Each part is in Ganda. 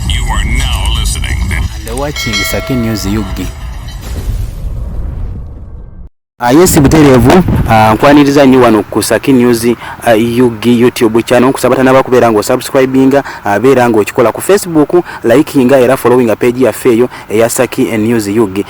You are now listening and watching Saki News Yugi. Ah, yes buterevu ah, nkwaniriza uh, nyo wano ku Saki News uh, ah, UG YouTube channel kusabata naba kubera ngo subscribinga uh, bera ngo okikola ku Facebook likinga era followinga page ya feyo ya Saki News UG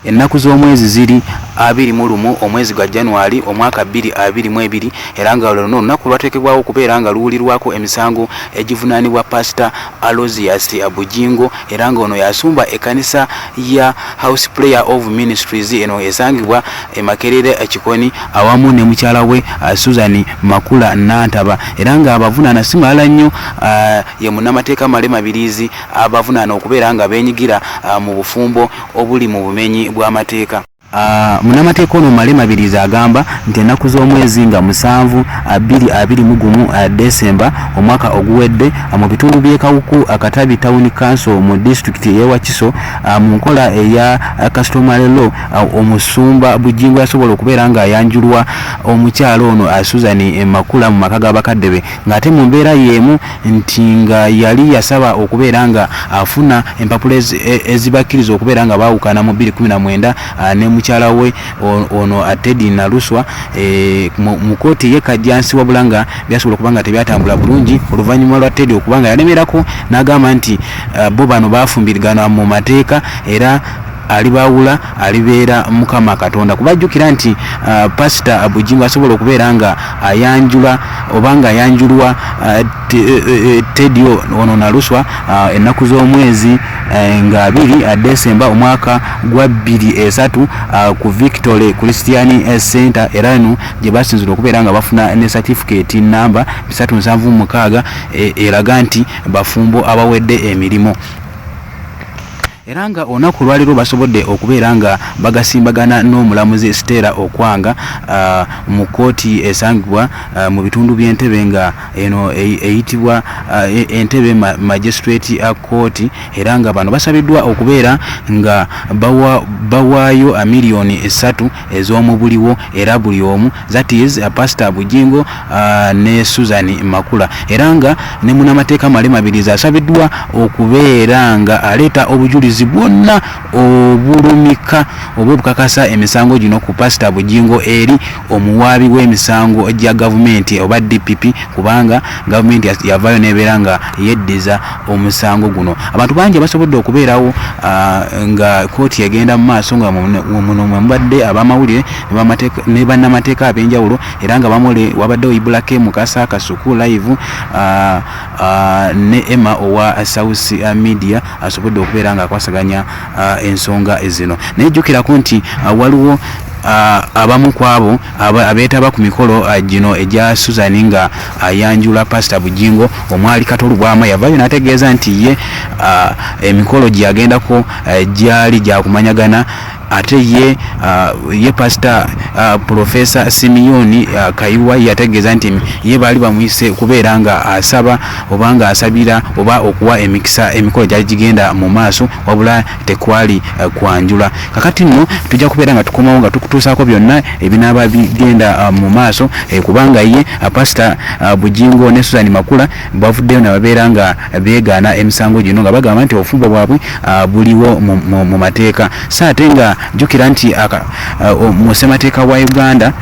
Ennaku z'omwezi ziri abiri mu lumu omwezi gwa January omwaka bbiri abiri mu ebiri era nga luno olunaku lwateekebwawo okubeera nga luwulirwako emisango egivunaanibwa Paasita Alozius Bujingo era nga ono y'asumba ekkanisa ya House Prayer of Ministries eno esangibwa e Makerere Kikoni awamu ne mukyala we uh, Susan Makula Nantaba era nga abavunaana si malala nnyo uh, ye munnamateeka Male Mabiriizi abavunaana okubeera nga beenyigira uh, mu bufumbo obuli mu bumenyi bw'amateeka. Munnamateeka ono Male Mabirizi agamba nti ennaku z'omwezi nga musanvu, bbiri abiri mu gumu Decemba omwaka oguwedde mu bitundu by'e Kawuku Katabi Town Council mu disitulikiti y'e Wakiso mu nkola eya Customary Law omusumba Bujjingo yasobola okubeera ng'ayanjulwa omukyala ono Susan Makula mu maka ga bakadde be. ng'ate mu mbeera y'emu nti nga yali yasaba okubeera nga afuna empapula e, ezibakkiriza okubeera nga baawukana mu 2019 ah, ne mukyala we ono ah, Teddy Naluswa eh, mu kkooti ye Kajjansi wabula nga byasobola okuba nga tebyatambula bulungi oluvannyuma lwa Teddy okuba nga yalemerako n'agamba nti ah, bo bano baafumbirigana mu mateeka era alibaawula alibeera mukama katonda kuba jjukira nti uh, pasita bujingo asobola okubeera nga ayanjula oba nga ayanjulwa uh, te, uh, uh, tedio ono naluswa uh, ennaku z'omwezi uh, nga abiri uh, desemba omwaka gwa bbiri esatu uh, ku victory christian uh, center era eno gye basinzira okubeera nga bafuna ne certificate namba bisatu nsanvu mukaaga e, eraga nti bafumbo abawedde emirimu era nga olunaku olwaleero basobodde okubeera nga bagasimbagana n'omulamuzi Stella Okwanga uh, mu kkooti esangibwa uh, mu bitundu by'entebe nga eno e-, eyitibwa uh, e-, entebe magistrate court era nga bano basabiddwa okubeera nga bawaayo miliyoni esatu ez'omubuliwo era buli omu that is uh, pastor Bujingo uh, ne Susan Makula era nga ne munamateeka Male Mabirizi asabiddwa okubeera nga aleeta obujulizi bwonna obulumika oba obukakasa emisango gino ku pastor Bujingo eri omuwaabi w'emisango gya gavumenti oba DPP kubanga gavumenti yavaayo nebeera nga yeddiza omusango guno abantu bangi abasobodde okubeerawo ah, nga kooti egenda mu maaso nga muno mwemubadde abamawulire ne bannamateeka ab'enjawulo era nga bamule wabaddewo ibulake mukasa kasuku live ah, ah, ne emma owa south media asobodde okubeera nga akwasaganya ensonga zino naye jjukirako nti waliwo abamu ku abo abeetaba ku mikolo uh, gino egya Susan nga ayanjula Pasita Bujingo omwali Kato Lubwama yavaayo n'ategeeza nti ye uh, emikolo gye yagendako uh, gyali gyakumanyagana ate ye uh, ye pastor uh, professor Simeoni uh, Kaiwa yategeeza nti ye baali bamuyise kubeera nga asaba oba nga asabira oba okuwa emikisa emikolo gyali gigenda mu maaso wabula tekwali eh, kwanjula kakati nno tujja kubeera nga tukomawo nga tukutuusaako byonna ebinaaba bigenda eh, mu maaso eh, kubanga ye pasita bujingo ne suzani makula bavuddeyo nababeera nga beegaana emisango gino nga bagamba nti obufumbo bwabwe buliwo mu mateeka so ate nga jjukira nti mu ssemateeka wa uganda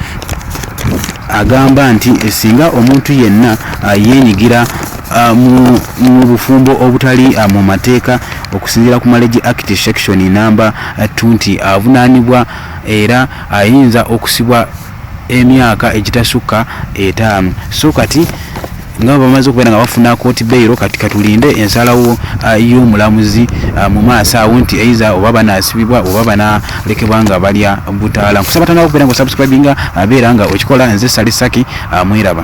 agamba nti singa omuntu yenna yenyigira Ah, mu bufumbo obutali ah, mu mateeka okusinziira ku malegi act section namba ah, t nti avunaanibwa era ayinza okusibwa emyaka egitasukka etaano so kati nga bamaze okubeera nga bafuna kooti beyiro kati katulinde ensalawo y'omulamuzi mu maaso awo nti eiza oba banasibibwa oba banalekebwa nga balya butaala nkusaba tandika okubeera nga osubscribinga abeera nga okikola nze salisaki mweraba